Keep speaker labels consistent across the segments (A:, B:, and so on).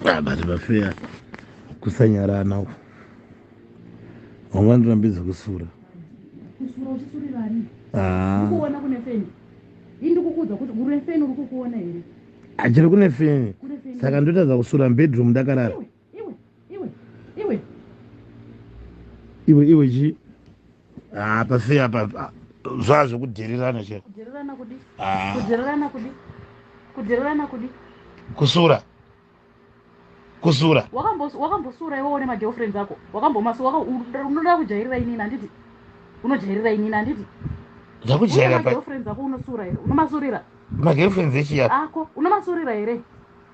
A: ah, but vafeya kusanyarana uku vamwe vanotorambidza kusura kusura
B: uchisurira ani ah. ukuona kune feni ini ndikukuudza kuti kune feni uri kukuona here achiri kune
A: feni saka ndotadza kusura mbedroom ndakarara iwe iwe iwe iwe iwe chi ah pasi apa ah, zva zvekudherirana che kudherirana kudi ah. kudherirana kudi
B: kudherirana kudi kusura
A: kusura
B: wakambosura iwe one magirlfriends ako wakambomas unoda kujairira inini handiti unojairira inini handiti ndakujairira
A: magirlfriends ako
B: unosura here unomasurira magirlfriends echiya
A: ako unomasurira
B: here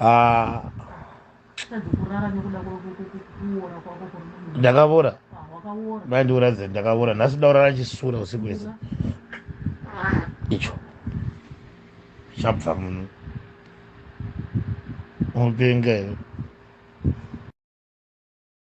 A: ah. ndakavora mandiuradza ndakavora nhasi ndaurara chisura usiku wese icho chabva muno unopenga here